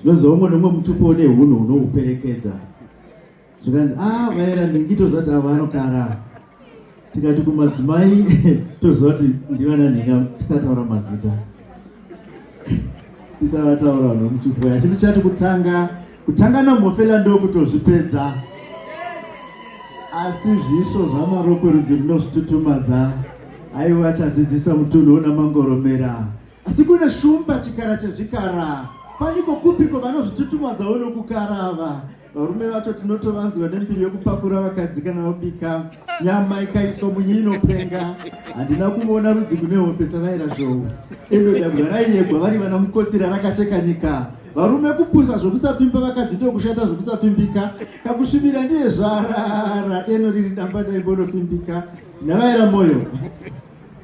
tinoziva umwe nomwe mutupo une hunhu hunohuperekedza zvikanzi a ah, vaera ndingi toziva kuti ava anokara tikati kumadzimai toziva kuti ndivana nhinga tisataura mazita tisavataura vanhu vemutupo asi tichati kutanga kutanga namhofela ndokutozvipedza asi zvisvo zvamarokwerudzi rinozvitutumadza aiwa achazidzisa mutunhu una mangoromera Asi kune shumba chikara chezvikara paniko kupiko vanozvitutumadzawo nokukara ava varume vacho tinotovanzwa nembiri yokupakura vakadzi kana vabika nyama ikaiswa munyi inopenga handina kuona rudzi kune hombe savaira zvowo endo dabwa raiyegwa vari vana mukotsira rakacheka nyika varume kupusa zvokusapfimba vakadzi ndokushata zvokusapfimbika kakusvibira ndiye zvarara deno riri damba ndaimbonofimbika ndavaira mwoyo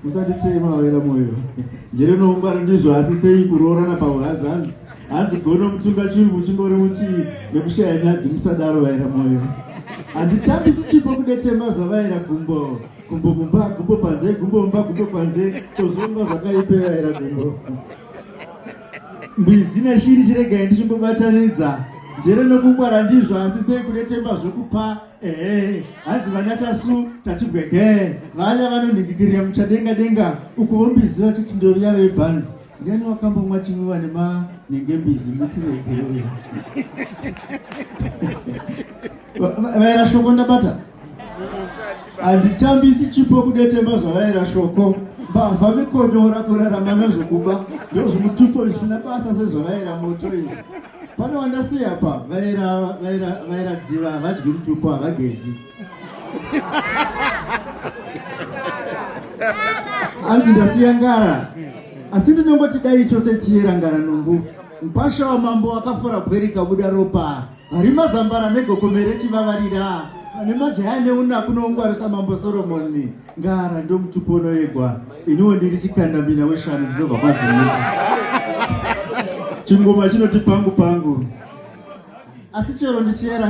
musatitema vaira moyo njere noungwaro ndizvo asi sei kuroorana pahwazvanzi hanzi gono mutunga chiri muchingori muchii nekushaya nyadzi musadaro vaira moyo handitambisi chipo kudetemba zvavaira gumbo gumbo mumba gumbo panze gumbo mumba gumbo panze tozvomba zvakaipe vaira gumbo mbizi neshiri chiregai ndichimbobatanidza njere nokungwara ndizvo asi sei kudetemba zvokupa Ehe, hanzi vana tasu tatibwegee vaya vanonhikikirira muchadenga denga uku vombiziva kuti ndoviya vebhanzi ndiani wakambomwa chimwiwa nemanhenge mbizi mutsiregeroya vaera shoko ndabata handitambisi chipo kudetemba zvavaera shoko mbavha vikonyora kurarama nezvokuba ndozvimutupo zvisina basa sezvavaera moto izvi Pane wandasiya apa vaera vaera vaera dziva havadyi mutupo havagezi. Hanzi ndasiya ngara. Asi ndinongoti dai chose chiyera ngara numbu. Mpasha wamambo wakafora bwerika buda ropa. Hari mazambara negokomere chivavarira. Ane majaya neunaku noungwarisa mambo Solomoni. Ngara ndomutupo unoyegwa iniwo ndiri chikandamina weshanu ndinobva kwazimuti chingoma chinoti pangu pangu asi chero ndichiyera